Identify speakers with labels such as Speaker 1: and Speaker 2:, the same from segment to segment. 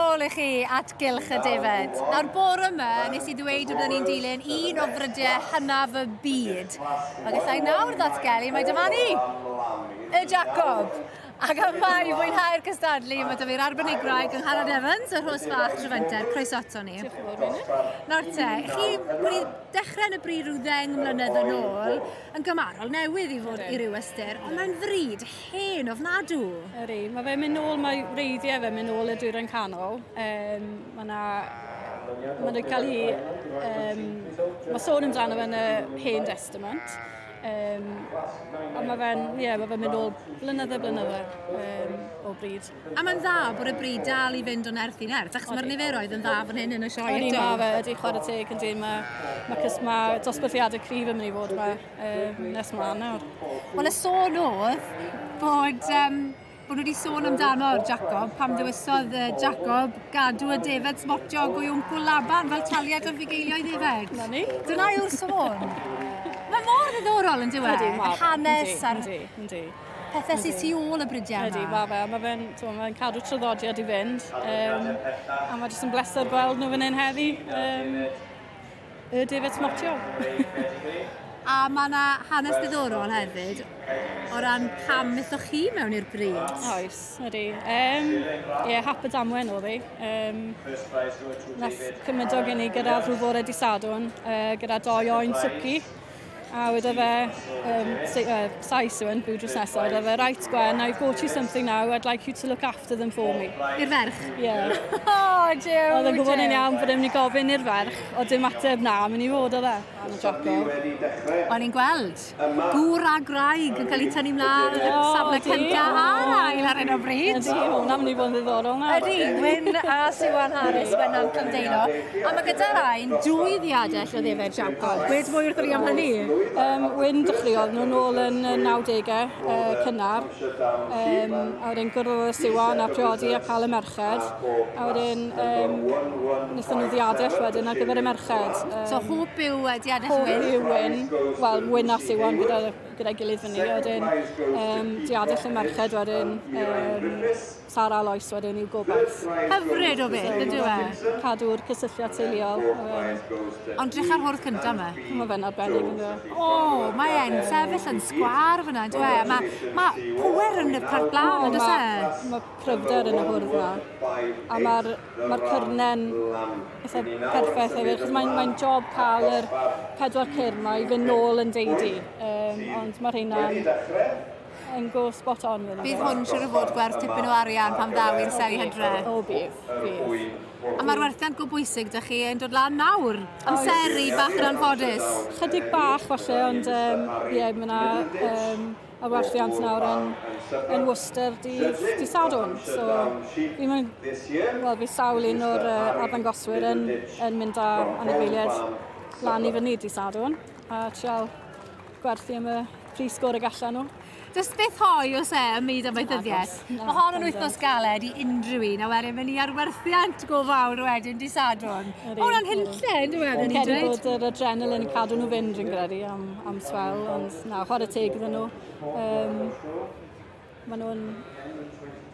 Speaker 1: ôl i chi at gylch y defaid. Nawr bore yma, nes i ddweud bod ni'n dilyn un o frydiau hynaf y byd. Mae gallai nawr ddatgelu mae dyma ni, y Jacob. Ac am mai i fwynhau'r cystadlu, mae dyma i'r arbenigraig yng Ngharad Evans, y rhos fach trefenter, croeso ato ni. Nawr te, chi wedi dechrau yn y bryd rhyw ddeng mlynedd yn ôl, yn gymarol newydd i fod i ryw ystyr, ond mae'n fryd Hen ofnadw! Ydy, mae fe'n mynd
Speaker 2: nôl, mae wreiddiau fe'n mynd nôl y dwyrain canol. Um, mae yna... Mae'n cael ei... Um, mae sôn amdano fe'n y Hen Testament. Um, a mae fe'n, ie, yeah, mae fe'n mynd nôl blynydde, blynydde um, o bryd. A mae'n dda bod y
Speaker 1: bryd dal i fynd o'n erth i nerth, er, achos mae'r niferoedd yn dda fan hyn yn y sioe eto. Ydy, mae fe, ydy chwarae teg
Speaker 2: yn dyn, mae, mae, mae dosbarthiadau cryf yn mynd i fod yma. Um, nes ma nawr. Wel, y sôn
Speaker 1: oedd bod, um, bod nhw wedi sôn amdano Jacob, pam ddewisodd uh, Jacob gadw y defed smotio go i wmcw Laban fel taliad o'r fugeilioedd efeg. Na ni. Dyna yw'r
Speaker 2: sôn.
Speaker 1: Mae mor ddiddorol yn diwedd. Ydy, mae. Hanes a'r... Ydy, ydy pethau sydd tu ôl y bridiau yma. Ydy, mae fe. Mae fe'n
Speaker 2: mae fe cadw traddodiad i fynd. Um, a mae jyst yn bleser gweld nhw fan hyn heddi. Um, Y Defaid Smotio.
Speaker 1: A mae yna hanes diddorol hefyd o ran pam methoch chi mewn i'r bryd. Oes, ydy.
Speaker 2: Um, ie, yeah, hap y damwen oedd ei. Um, nath cymryd o gen i gyda rhyw fore di sadwn, uh, gyda doi oen twci. A weda fe, um, say, uh, Sais yw yn byw drws nesaf, weda fe, right Gwen, I've bought you something now, I'd like you to look after them for me. I'r ferch? Ie.
Speaker 1: Yeah.
Speaker 2: oh, Joe,
Speaker 1: Oedd yn gwybod yn iawn bod
Speaker 2: e'n mynd i gofyn i'r ferch, o dim ateb na, mynd i fod o dda. O'n i'n
Speaker 1: gweld gŵr a graig yn cael ei tynnu mlaen yn safle cyntaf a'r ail ar hyn o bryd. Ydy, hwnna'n mynd i fod yn
Speaker 2: ddiddorol na. Ydy, Wyn a
Speaker 1: Siwan Harris, Wyn a'n Cymdeino. A mae gyda Rain dwy ddiadell o ddefaid Jacob. Gweud mwy wrthyn ni am hynny? Um, Wyn
Speaker 2: dechreuodd nhw'n ôl yn y 90au uh, cynnar. Um, a wedyn gwrdd y siwan a priodi a cael y merched. A wedyn um, wnaethon nhw ddiadell wedyn ar gyfer y merched. Um, so hwb yw
Speaker 1: uh, diadell Wyn? Hwb yw Wyn.
Speaker 2: Wel, Wyn a siwan gyda'i gyda gilydd fyny. A wedyn um, diadell y merched wedyn. Um, Sara Lois wedyn i'w gobaith. Hyfryd o beth,
Speaker 1: yn dyw e? Cadw'r cysylltiad
Speaker 2: teuluol. Ond
Speaker 1: drych ar hwrdd cynta yma. Mae fe'n arbennig yn
Speaker 2: dweud. O, mae e'n
Speaker 1: sefyll yn sgwar fyna, yn dweud. E? Mae ma pwer yn y parc blaen, yn dweud e? Mae cryfder
Speaker 2: yn y hwrdd yma. A mae'r ma cyrnen eitha perffaith hefyd, chos mae'n mae job cael yr pedwar cyrn mae i fynd nôl yn deidi. Um, ond mae'r rheina'n yn go spot on. Bydd hwn siwr o fod
Speaker 1: gwerth tipyn o arian pan ddaw i'r seli hydre. O bydd, bydd.
Speaker 2: A
Speaker 1: mae'r werthiant go bwysig, da chi yn dod lan nawr. Amseru bach yn anffodus. Chydig bach
Speaker 2: falle, ond ie, um, yeah, mae yna um, y werthiant nawr yn, yn Worcester dydd, dydd Sadwn. So, fi'n mynd, wel, fi sawl un o'r uh, arddangoswyr yn, yn mynd â anifeiliaid lan i fyny dydd Sadwn a trial gwerthu am y pris sgôr y gallan nhw. Does beth hoi
Speaker 1: os e ym myd amaethyddiaeth. Mae hon yn wythnos galed i unrhyw un, a wedyn mynd i arwerthiant go fawr wedyn di sadwn. Mae hwnna'n hunlle, yn dweud? Fi'n credu bod yr
Speaker 2: adrenalin yn cadw nhw fynd, fi'n credu, am, am swel, ond na, chwarae teg iddyn nhw. Um, Mae nhw'n...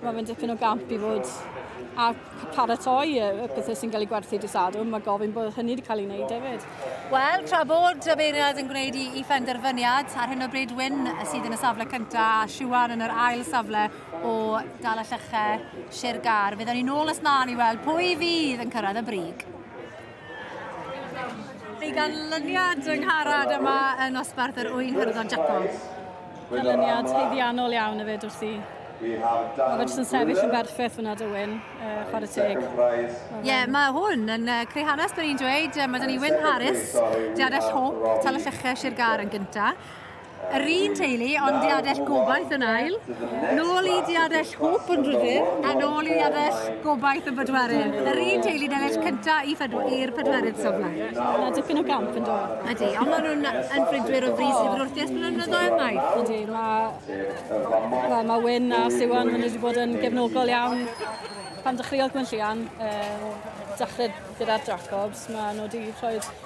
Speaker 2: Mae fe'n dipyn o gamp i fod a paratoi y pethau sy'n cael ei gwerthu dy sadwrn. Mae gofyn bod hynny wedi cael ei wneud hefyd. Wel, tra bod
Speaker 1: y beiriad yn gwneud i, i phenderfyniad, ar hyn o bryd Wyn sydd yn y safle cyntaf a Siwan yn yr ail safle o dal y llychau Sir Gar. Byddwn ni'n ôl ys mlaen i weld pwy fydd yn cyrraedd y brig. Fi ganlyniad yng Ngharad yma yn Osbarth yr Ŵyn Hyrddon Jacob. Ganlyniad
Speaker 2: heiddiannol iawn y fyd wrth i. Mae fe jyst yn sefyll yn berffeth fyna Dywyn, uh, chwarae teg. Ie, yeah, mae
Speaker 1: hwn yn uh, creu hanes, byddwn i'n dweud. Uh, mae dyn ni Wyn Harris, Diadell Hope, Tal y Lleches i'r gar yn gyntaf. Yr un teulu, ond diadell gobaith yn ail. Nôl i diadell hwp yn rhydydd, a nôl i diadell gobaith yn bedwerydd. Yr un teulu delell cynta i ffedw i'r pedwerydd safle. Yna dipyn o
Speaker 2: gamp yn dod. Ydy, ond maen nhw'n
Speaker 1: yn brydwyr o frys i'r wrthias blynyddo ymau. Ydy,
Speaker 2: mae ma Wyn a Siwan, maen nhw wedi bod yn gefnogol iawn pan dechreuodd Gwynllian, um, dechrau gyda'r Jacobs, maen nhw wedi rhoi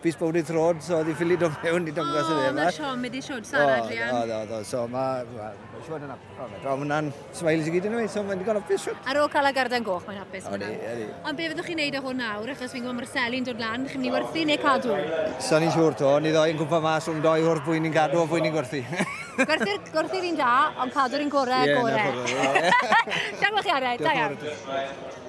Speaker 3: Fis bod wedi trod, so oedd hi'n ffili dod mewn i dangos yn efa. O, na siom, wedi siod Sara,
Speaker 1: Adrian. O, o, o, so mae...
Speaker 3: Mae'n siod yn apus. O, mae hwnna'n smiles i gyd yn ei, so mae'n digon apus siod. Ar ôl cael y garden goch, mae'n
Speaker 1: apus. Odi, odi. Ond be
Speaker 3: fyddwch chi'n
Speaker 1: neud o hwn nawr, achos fi'n gwybod mae'r seli'n dod lan, chi'n mynd i werthu neu cadw? Sa'n ni'n siŵr to,
Speaker 3: ni ddoi yn gwmpa mas o'n doi wrth bwy'n ni'n gadw o bwy'n ni'n gwerthu.
Speaker 1: Gwerthu'r un da,
Speaker 3: ond
Speaker 1: cadw'r un gorau, gorau. Ie, na,
Speaker 3: gorau.
Speaker 1: Diolch chi, Ared. Da
Speaker 3: iawn.